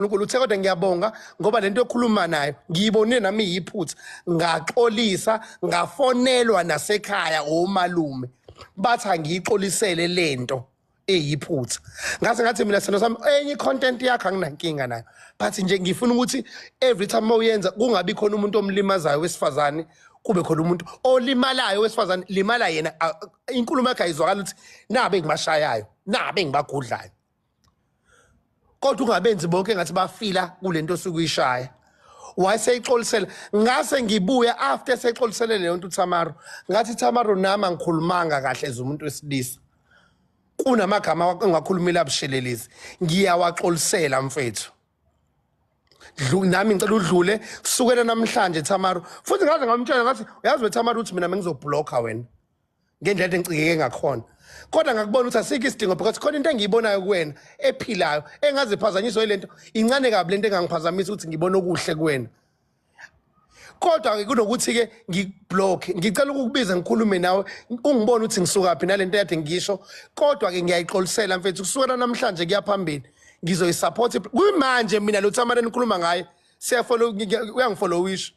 uNkulunkulu uthe kodwa ngiyabonga ngoba lento yokhuluma nayo ngiyibonile nami yiphutha ngaxolisa ngafonelwa nasekhaya omalume bathi angiyixolisele lento eyiphutha ngase ngathi mina sithando sami enye content yakho anginankinga nayo but nje ngifuna ukuthi every time mawuyenza kungabi khona umuntu omlimazayo wesifazane kube khona umuntu olimalayo wesifazane limala yena inkulumo yakhe ayizwakala ukuthi nabe ngimashayayo nabe ngibagudlayo kodwa ungabenzi bonke ngathi bafila kule nto osuke uyishaya wayeseyixolisela ngase ngibuya after seyixolisele leyo nto uthamaro ngathi thamaro nami angikhulumanga kahle as umuntu wesilisa kunamagama ongakhulumile abushelelezi ngiyawaxolisela mfethu nami ngicela udlule kusukela namhlanje thamaro futhi ngaze ngamtshela ngathi uyazi wethamaro ukuthi mina bengizobhlokha wena ngendlela ade ngicikeke ngakhona kodwa ngakubona ukuthi asikho isidingo because khona into engiyibonayo kuwena ephilayo engaziphazanyiswa yilento incane kabi lento engangiphazamisa ukuthi ngibone okuhle kuwena kodwa ke kunokuthi ke ngiblock ngicela ukukubiza ngikhulume nawe ungibone ukuthi ngisuka phi nalento yade ngisho kodwa ke ngiyayixolisela mfethu kusukela namhlanje kuyaphambili ngizoyisupport kuyimanje mina lo tsamara nikhuluma ngaye siyafollow uyangifollowisha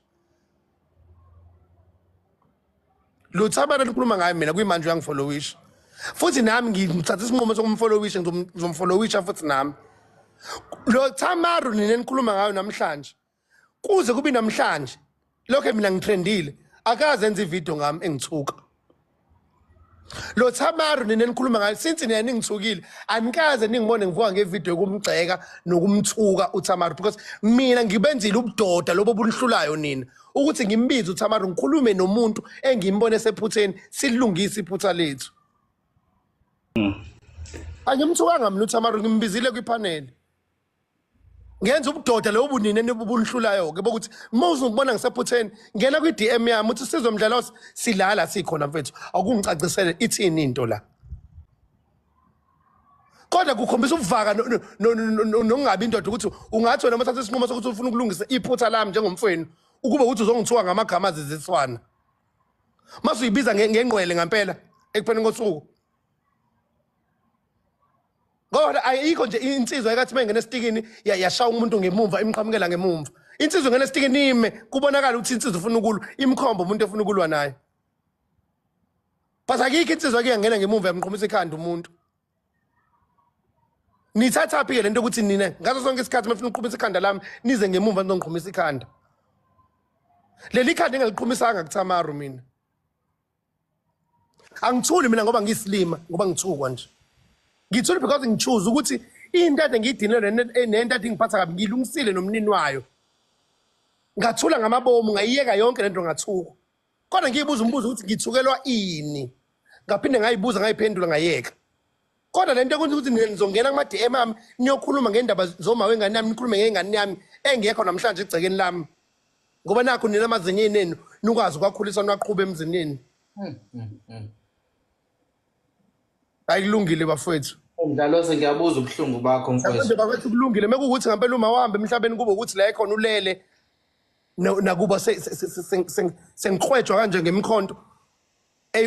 lutho abantu likhuluma ngayo mina kuyimanje uyangifollowisha futhi nami ngithatha isinqumo sokumfollowisha ngizomfollowisha futhi nami lo Tamaru nina nikhuluma ngayo namhlanje kuze kube namhlanje lokho mina ngithrendile akaze enze ivideo ngami engithuka lo Thamaru nina nikhuluma ngayo since nina ningithukile anikaze ningibone ngivuka ngevideo yokumgxeka nokumthuka uThamaru because mina ngibenzile ubudoda lobo bunhlulayo nina ukuthi ngimbize uThamaru ngikhulume nomuntu engimbone sephutheni silungise iphutha lethu hmm. angimthukanga mina uThamaru ngimbizile kwipanel ngenza ubudoda lobo bunini enibubunihlulayo ke bokuthi uma uzongibona ngisephutheni ngena kwi DM yami uthi sizwe mdlalo silala sikhona mfethu akungicacisele ithini into la kodwa kukhombisa ubuvaka nokungabi indoda ukuthi ungathi wena mathatha isinqumo sokuthi ufuna ukulungisa iphutha lami njengomfweni ukube ukuthi uzongithiwa ngamagama aziziswana mase uyibiza ngengqwele ngempela ekupheleni kosuku kodwa ayikho nje insizwa ekathi uma ingena esitikini yashaya umuntu ngemumva imqhamukela ngemumva insizwa ingena esitikini ime kubonakala ukuthi insizwa ufuna ukulwa imkhomba umuntu efuna ukulwa naye but akikho insizwa ke yangena ngemumva yamqhumisa ikhanda umuntu nithathaphi ke lento ukuthi nina ngaso sonke isikhathi mafuna uqhumisa ikhanda lami nize ngemumva nizongiqhumisa ikhanda leli khanda engaliqhumisanga kuthamaru mina angithuli mina ngoba ngiyisilima ngoba ngithukwa nje ngithuli because ngichoose ukuthi into ade ngiyidinelwe nento ade ingiphatha kabi ngilungisile nomnini wayo ngathula ngamabomu ngayiyeka yonke lento ngathuka kodwa ngiyibuza umbuzo ukuthi ngithukelwa ini ngaphinde ngayibuza ngayiphendula ngayeka kodwa lento ekwenza ukuthi nina nizongena kuma DM ami niyokhuluma ngendaba zoma wengane yami nikhulume ngengane yami engekho namhlanje egcekeni lami ngoba nakho nina amazinyeni enu nikwazi ukwakhulisa niwaqhuba emzinini hmm, hmm, hmm. ayikulungile bafowethu Mdlalose ngiyabuza ubuhlungu bakho mfowethu. Bakwethu kulungile mekuwukuthi ngempela uma wahamba emhlabeni kube ukuthi la ekhona ulele nakuba sengikhwejwa kanje ngemkhonto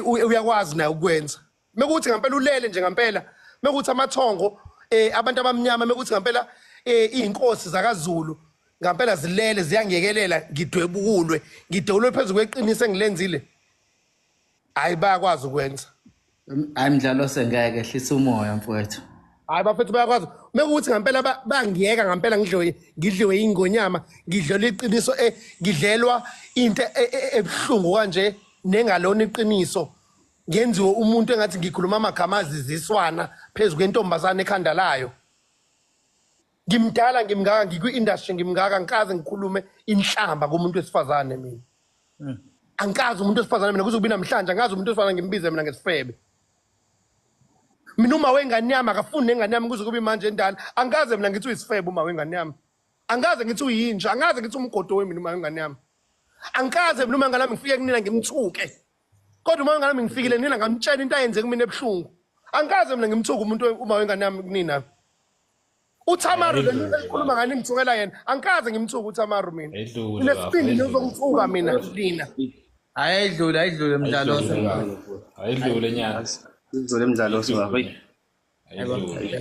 uyakwazi naye ukwenza. Mekuthi ngampela ulele nje ngampela, mekuthi amathongo eh abantu abamnyama mekuthi ngampela eh izinkosi zakaZulu ngampela zilele ziyangekelela ngidwebukulwe ngidewulwe phezulu kweqiniso engilenzile. Hayi bayakwazi ukwenza. Hayi mdlalo sengeke hlisa umoya mfowethu. Hayi bafethu bayakwazi. Mekuthi ngampela ba- bangiyeka ngampela ngidliwe ngidliwe ingonyama, ngidlelwa iqiniso eh ngidlelwa into e- e- ebuhlungu kanje nengalona iqiniso. ngenziwe umuntu engathi ngikhuluma amagama aziziswana phezu kwentombazane ekhanda layo ngimdala ngimngaka ngikwi-industry ngimngaka ngikaze ngikhulume inhlamba komuntu wesifazane mina hmm. angikazi umuntu wesifazane mina kuze kubi namhlanje angazi umuntu wesifazane ngimbize mina ngesifebe mina uma wengane yami akafuni nengane yami kuze kubi manje endala angikaze mina ngithi uyisifebe uma wengane yami angikaze ngithi uyinja angikaze ngithi umgodo wemina uma wengane yami angikaze mina uma ngane yami ngifike kunina ngimthuke kodwa uma ngami ngifikile nina ngamtshela into ayenze kumina ebuhlungu angikaze mina ngimthuka umuntu uma wengane yami kunina uThamaru le nto ekhuluma ngani ngithukela yena angikaze ngimthuka uThamaru mina nesibindi nizongithuka mina lina hayi ayidlule ayidlule mdlalo ayidlule nyaka ayidlule mdlalo ayidlule